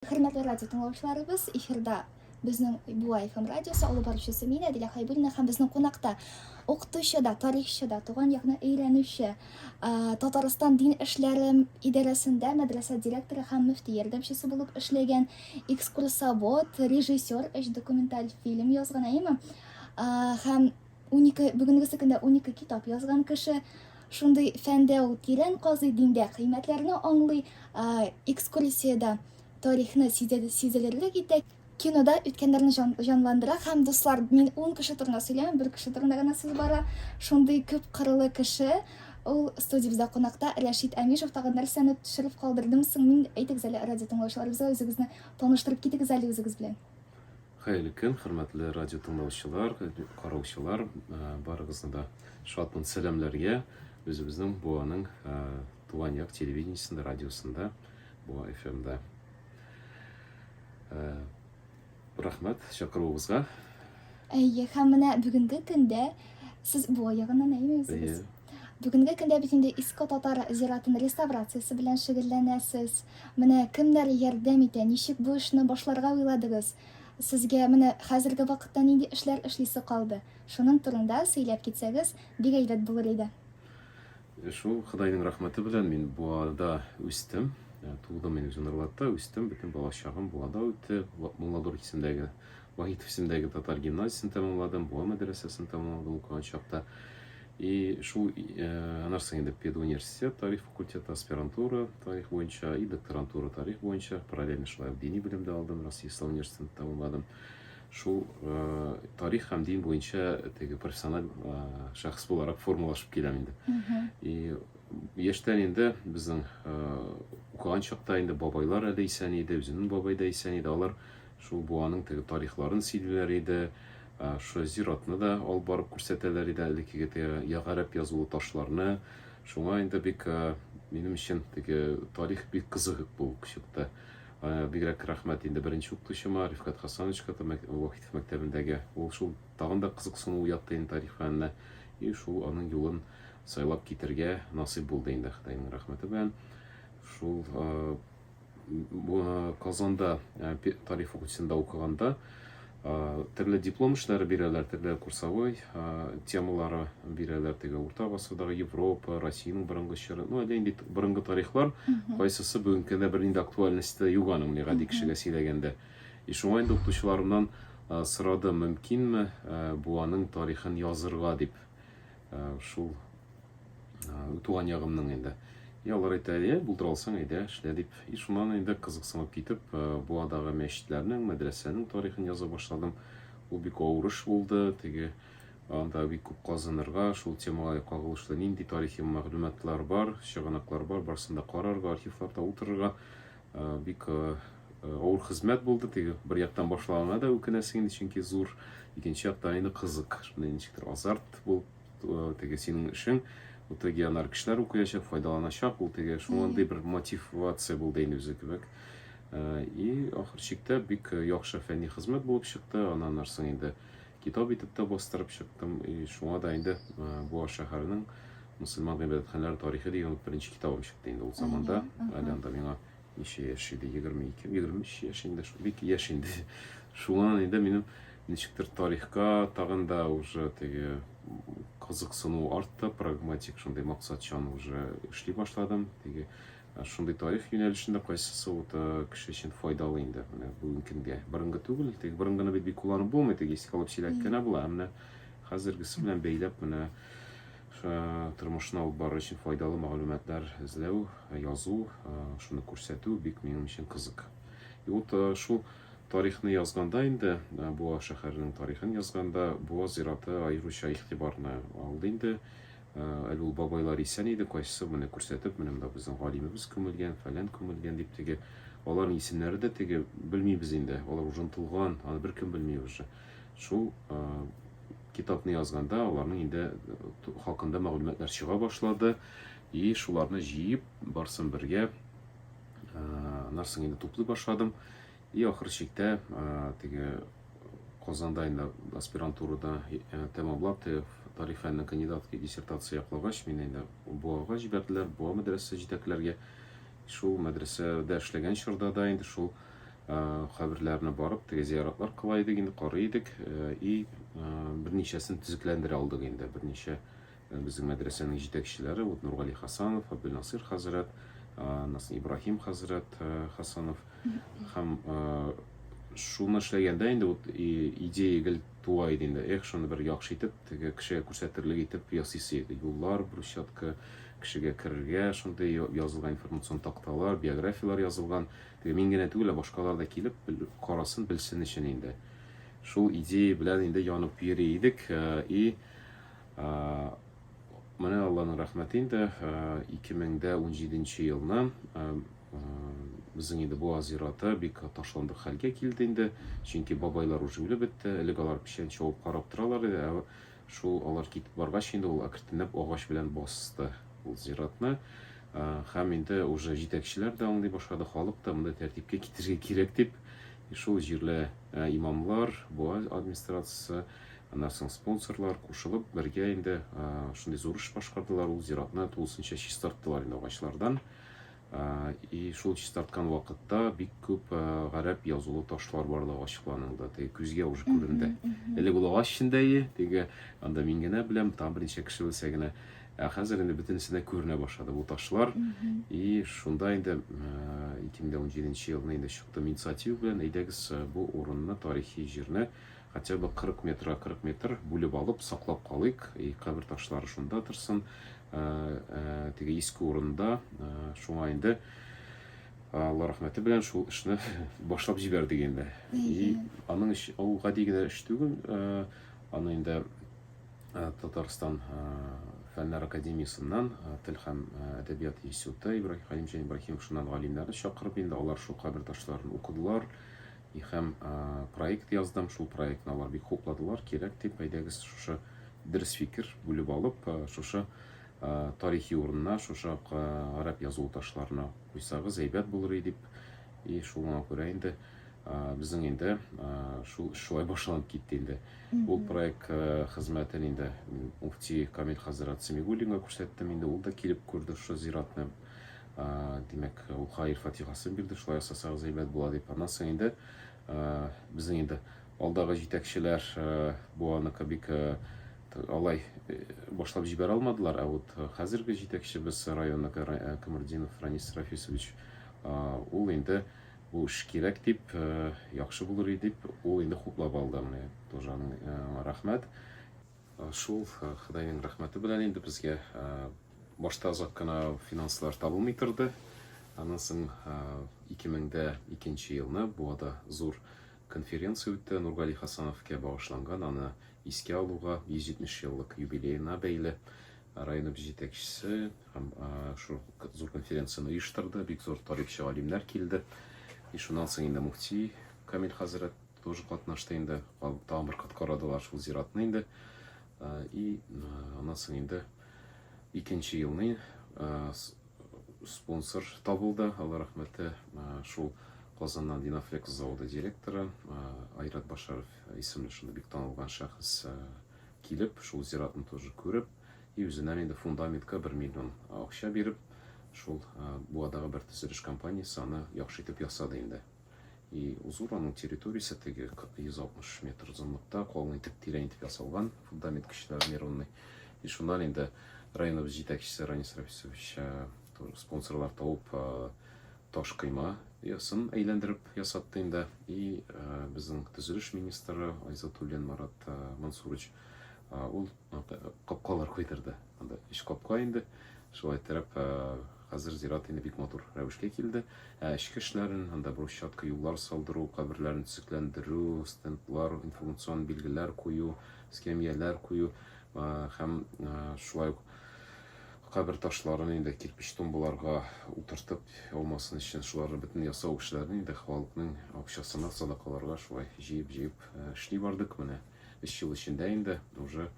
Хөрмәтле радио тыңлаучыларыбыз, эфирда безнең Буа FM радиосы алып баручысы мин Әдилә Хайбуллина һәм безнең кунакта укытучы да, тарихчы да, туган якны өйрәнүче, Татарстан дин эшләре идарәсендә мәдрәсә директоры һәм мөфти ярдәмчесе булып эшләгән экскурсовод, режиссер, өч документаль фильм язган, әйеме? Һәм 12 бүгенгесе көндә 12 китап язган кеше шундый фәндә ул тирән казый диндә кыйммәтләрне аңлый экскурсиядә тарихны сизелерлек итә кинода үткәннәрне җан, җанландыра һәм дуслар мин ун кеше турында сөйләмим бер кеше турында гына сүз бара шундый күп кырлы кеше ул студиябездә кунакта рәшит әмишев тагын нәрсәне төшереп калдырдым соң мин әйтегез әле радио тыңлаучыларыбызга үзегезне таныштырып китегез әле үзегез белән Хәерле көн, хөрмәтле радио тыңлаучылар, караучылар, барыгызны да шатмын сәламләргә. Үзебезнең Буаның туган як телевидениесендә, радиосында, Буа FM-да. Рәхмәт чакыруыгызга. Әйе, һәм менә бүгенге көндә сез Буа ягыннан әйе, Бүгенге көндә бит инде Иско татар зиратын реставрациясе белән шөгыльләнәсез. Менә кемнәр ярдәм итә? Ничек бу эшне башларга уйладыгыз? Сезгә менә хәзерге вакытта нинди эшләр эшлисе калды? Шуның турында сөйләп китсәгез, бик әйбәт булыр иде. Э, шул Худайның рәхмәте белән мин Буада үстем. Э, тудым мин Җанарлатта, үстем, бөтен балачагым Буада үтте. Мулладур исемдәге Вахитов исемдәге татар гимназиясен тәмамладым, Буа мәдрәсәсен тәмамладым укыган чакта. И шул э, анарсы инде педуниверситет, тарих факультеты, аспирантура, тарих буенча, и докторантура, тарих буенча, параллельно шулай ук дини белем дә алдым, Россия Ислам университетын тәмамладым. Шул э, тарих һәм дин буенча теге профессиональ э, шәхес буларак формалашып киләм инде. И яшьтән инде безнең э, укыган чакта инде бабайлар әле исән иде, үземнең бабай да исән иде. Алар Шул буаның теге тарихларын сөйлиләр иде. Шушы зиратны да алып барып күрсәтәләр иде, элеккеге теге ягарәп язулы ташларны. Шуңа инде бик минем өчен теге тарих бик кызык булып чыкты. Бигрәк рәхмәт инде беренче укытучыма, Рифкат Хасановичка, Вахитов мәктәбендәге. Ул шул тагын да кызыксыну уятты инде тарих фәненә. И шул аның юлын сайлап китергә насыйп булды инде Хытайның рәхмәте белән. Шул Э, Казанда э, тарих факультетында укыганда э, төрле диплом эшләре бирәләр, төрле курсовой темалары бирәләр. Теге урта гасырдагы Европа, Россиянең борынгы чоры, ну әллә инде борынгы тарихлар, кайсысы бүгенге көндә бернинди актуальностьта юк аның, менә гади кешегә сөйләгәндә. И шуңа инде укытучыларымнан сорадым, мөмкинме бу аның тарихын язырга дип. шул туган ягымның инде и алар әйтә е булдыра алсаң әйдә эшлә дип и шуннан инде кызыксынып китеп буадагы мәчетләрнең мәдрәсәнең тарихын яза башладым ул бик авыр эш булды теге анда бик күп казынырга шул темага кагылышлы нинди тарихи мәгълүматлар бар чыганаклар бар барысын да карарга архивларда утырырга бик Авыр хезмәт булды, теге бер яктан башланына да үкенәсең инде, чөнки зур, икенче яктан инде кызык, шундый ничектер азарт булып, теге синең эшең, бу теге янар кешеләр укыячак, файдаланачак, ул теге шундый бер мотивация булды инде үзе кебек. И ахыр чиктә бик яхшы фәнни хезмәт булып чыкты, аннан нарсын инде китап итеп тә бастырып чыктым, и шуңа да инде бу шәһәрнең мусульман гыйбадәтханәләре тарихы дигән беренче китабым чыкты инде ул заманда, әле анда миңа ничә яшь иде, 22, 23 яшь инде, бик яшь инде. Шуңа инде минем ничектер тарихка тагын да уже теге кызыксыну артты, прагматик шундый максатчан уже эшли башладым. Теге шундый тарих юнәлешендә кайсысы вот кеше өчен файдалы инде менә бүгенге көнгә. Борынгы түгел, теге борынгыны бит бик кулланып булмый, теге искә алып сөйләп кенә була, ә менә хәзергесе белән бәйләп менә Тормышны алып барыр өчен файдалы мәгълүматлар эзләү, язу, шуны күрсәтү бик минем өчен кызык. И вот шул тарихны язганда инде, Буа шәһәренең тарихын язганда, Буа зираты аеруча игътибарны алды инде. Әле ул бабайлар исән иде, кайсысы менә күрсәтеп, менә монда безнең галимебез күмелгән, фәлән күмелгән дип теге. Аларның исемнәре дә теге белмибез инде. Алар ужынтылган, аны беркем белми уже. Шул Китапны язганда аларның инде э, хакында мәгълүматлар чыга башлады. И шуларны җыеп, барсын бергә нарсын инде туплый башладым. И ахыр чиктә теге Казанда инде аспирантурада тәмамлап, тарих фәненең кандидатка диссертация яклагач, мине инде Буага җибәрделәр, Буа мәдрәсәсе җитәкләргә. Шул мәдрәсәдә эшләгән чорда да инде шул каберләренә барып, теге зияратлар кыла идек, инде карый идек и берничәсен төзекләндерә алдык инде. Берничә безнең мәдрәсәнең җитәкчеләре, вот Нургали Хасанов, Абдулнасир хәзрәт, Насыр Ибраһим хәзрәт Хасанов һәм шуны эшләгәндә инде вот идея гел туа иде инде. Эх, шуны бер яхшы итеп, теге кешегә күрсәтерлек итеп ясыйсы иде. Юллар, брусчатка, кешегә керергә шундый язылган информацион такталар, биографияләр язылган. Мин генә түгел, ә башкалар да килеп карасын, белсен өчен инде. Шул идея белән инде янып йөри идек. Э, и э, менә Алланың рәхмәте инде 2017 э, елны безнең инде Буаз зираты бик ташландык хәлгә килде инде. Чөнки бабайлар уже үлеп бетте. Элек алар печән чабып карап торалар иде. Шул алар китеп баргач инде ул әкртенеп агач белән басты ул зиратны. Хәм инде уже җитәкчеләр дә аңлый башлады, халык та монда тәртипкә китерергә кирәк дип, шул җирле имамлар, буа администрациясе, аннан соң спонсорлар кушылып бергә инде шундый зур эш башкардылар, ул зиратны тулысынча чистарттылар инде агачлардан. И шул чистарткан вакытта бик күп гарәп язулы ташлар барлыгы ачыкланылды. Теге күзгә уже күренде. Элек ул агач эчендә и, теге анда мин генә беләм, там берничә кеше белсә генә. Ә хәзер инде бөтенесе дә күренә башлады бу ташлар. И шунда инде 2017 елны инде чыктым инициатива белән, әйдәгез бу урынны, тарихи җирне Хотя бы 40 метра 40 метр бүлеп алып, саклап калыйк, и кабер ташлары шунда торсын, теге иске урында, шуңа инде Алла рәхмәте белән шул эшне башлап җибәрдек инде. И аның эш ул гади генә эш түгел, аны инде Татарстан фәннәр академиясеннән тел һәм әдәбият институты Ибраһим Хәлимҗан Ибраһимов шуннан галимнәрне чакырып инде алар шул кабер ташларын укыдылар, И һәм проект яздым, шул проектны алар бик хупладылар, кирәк дип, әйдәгез шушы дөрес фикер бүлеп алып, шушы тарихи урынына, шушы гарәп язу ташларына куйсагыз әйбәт булыр дип, и шуңа күрә инде безнең инде шул шулай башланып китте инде. Ул проект хезмәтен инде муфти Камил хәзрәт Симигуллинга күрсәттем, инде ул да килеп күрде шушы зиратны, димәк ул хаир фатихасын бирде шулай ясасагыз әйбәт була дип аннан соң инде безнең инде алдагы җитәкчеләр бу аныкы бик алай башлап җибәрә алмадылар ә вот хәзерге җитәкчебез районныкы камырдинов ранис рафисович ул инде бу эш кирәк дип яхшы булыр дип ул инде хуплап алды менә тоже рәхмәт Шул Ходайның рәхмәте белән инде безгә башта озак кына финанслар табылмый торды. Аннан соң 2002 елны Буада зур конференция үтте Нургали Хасановка багышланган, аны искә алуга 170 еллык юбилеена бәйле районыбыз җитәкчесе һәм шул зур конференцияне оештырды, бик зур тарихчы галимнәр килде. И шуннан соң инде муфти Камил хәзрәт тоже катнашты инде тагын бер кат карадылар шул зиратны инде и аннан соң инде икенче елны спонсор табылды алла рәхмәте шул казаннан динафлекс заводы директоры айрат башаров исемле шундый бик танылган шәхес килеп шул зиратны тоже күреп и үзеннән инде фундаментка бер миллион акча биреп шул буадагы бер төзелеш компаниясе аны яхшы итеп ясады инде И узор аның территориясе теге 160 метр озынлыкта калын итеп тирән итеп ясалган фундамент көчле армированный и шуннан инде районыбыз җитәкчесе Ранис Рафисович спонсорлар табып таш кыйма ясын әйләндереп ясатты инде и безнең төзелеш министры Айзатуллин Марат Мансурович ул капкалар куйдырды анда өч капка инде шулай итеп Хәзер зират инде бик матур рәвешкә килде. Ә эчке эшләрен, анда брусчатка, юллар салдыру, каберләрне төзекләндерү, стендлар, информацион билгеләр кую, скамьяләр кую һәм шулай ук кабер ташларын инде кирпич тумбаларга утыртып алмасын өчен шуларны бөтен ясау эшләрен инде халыкның акчасына садакаларга шулай җыеп-җыеп эшли бардык. Менә өч ел эчендә инде уже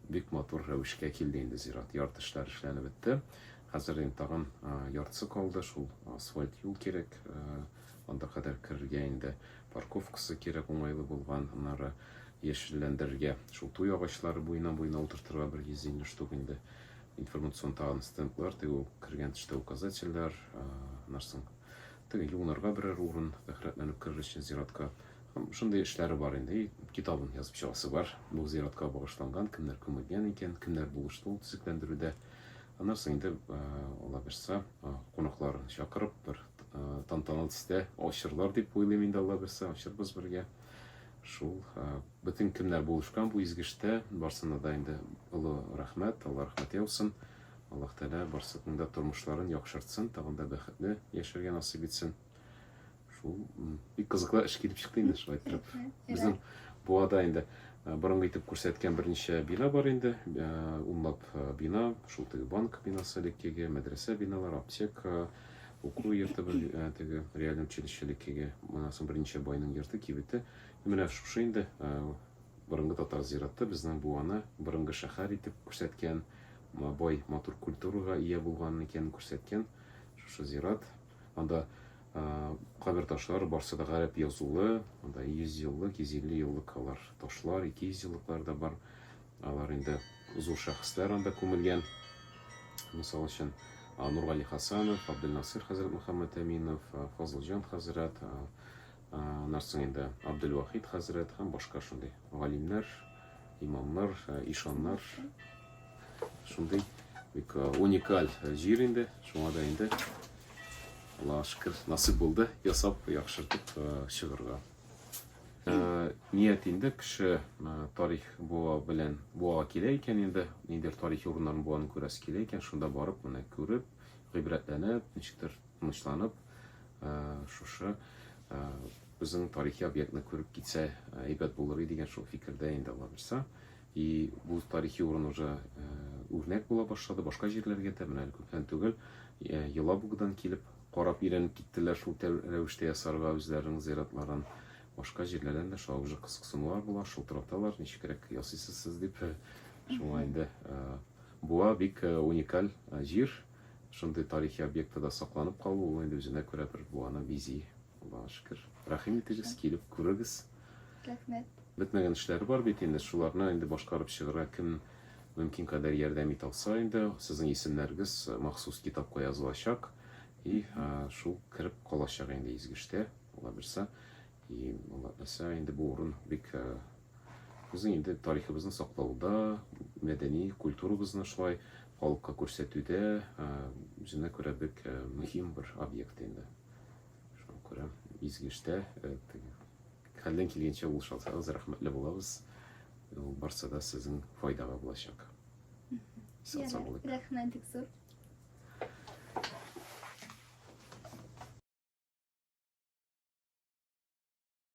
Бик матур рәвешкә килде инде зират. Ярты эшләр эшләнеп бетте. Хәзер инде тагын яртысы калды, шул асфальт юл кирәк. Анда кадәр керергә инде парковкасы кирәк, уңайлы булган. Аннары яшелләндерергә, шул туй агачлары буена буена утыртырга бер 150 штук инде. Информацион тагын стендлар, теге ул кергән төштә указательләр, нәрсәң. Теге юлларга берәр урын, рәхәтләнеп керер өчен зиратка. Шундый эшләре бар инде. Китабын язып чыгасы бар. Бу зиратка багышланган, кемнәр күмелгән икән, кемнәр булышты ул төзекләндерүдә. Аннан соң инде Алла бирса, кунакларын чакырып, бер тантаналы төстә ачырлар дип уйлыйм инде Алла бирса, ачырбыз бергә. Шул бөтен кемнәр булышкан бу изге эштә, барсына да инде олы рәхмәт, Алла рәхмәт яусын. Аллаһ Тәгалә барсының да тормышларын яхшыртсын, тагын да бәхетле яшәргә насыйп итсен. Шул бик кызыклы эш килеп чыкты инде шулай итеп. Безнең буада инде борынгы итеп күрсәткән берничә бина бар инде. Унлап бина, шул теге банк бинасы элеккеге, мәдрәсә биналар, аптека, уку йорты теге реальный училище элеккеге. Моннан соң берничә байның йорты, кибете. Менә шушы инде борынгы татар зираты безнең буаны борынгы шәһәр итеп күрсәткән, бай матур культурага ия булган икәнен күрсәткән шушы зират. Анда кабер ташлары барсы да гарәп язулы, анда 100 еллык, 150 еллык алар ташлар, 200 еллыклар да бар. Алар инде зур шәхесләр анда күмелгән. Мисал өчен, Нургали Хасанов, Абделнасыр хәзрәт Мөхәммәт Әминов, Фазылҗан хәзрәт, Аннан соң инде Абделвахит хәзрәт һәм башка шундый галимнәр, имамнар, ишаннар. Шундый бик уникаль җир инде. Шуңа да инде Аллаһ шөкер, насыйп булды ясап, яхшыртып чыгарга. Ният инде кеше тарих буа белән буага килә икән инде, ниндидер тарихи урыннарын буаны күрәсе килә икән, шунда барып, менә күреп, гыйбрәтләнеп, ничектер Тынычланып, шушы безнең тарихи объектны күреп китсә, әйбәт булыр иде дигән шул фикердә инде алабызса. И бу тарихи урын уже үрнәк була башлады башка җирләргә дә. Менә әле күптән түгел Елабугадан килеп карап өйрәнеп киттеләр шул рәвештә ясарга үзләренең зиратларын. Башка җирләрдән дә шулай уже кызыксынулар була, шылтыраталар, ничегрәк ясыйсыз сез дип. Шуңа инде буа бик уникаль җир. Шундый тарихи объектта да сакланып калу, ул инде үзенә күрә бер буаны бизи, Аллага шөкер. Рәхим итегез, килеп күрегез. Рәхмәт. Бетмәгән эшләре бар бит инде, шуларны инде башкарып чыгарга кем мөмкин кадәр ярдәм итә алса инде, сезнең исемнәрегез махсус китапка язылачак и шул кереп калачак инде Изгештә, Аллабирса. И Аллабирса инде бу урын бик Безнең инде тарихыбызны саклауда, мәдәни культурабызны шулай халыкка күрсәтүдә үзенә күрә бик мөһим бер объект инде. Шуңа күрә изге эштә хәлдән килгәнчә ул шалсагыз рәхмәтле булабыз. Ул барса да сезнең файдага булачак. Социаллык. Рәхмәт бик зур.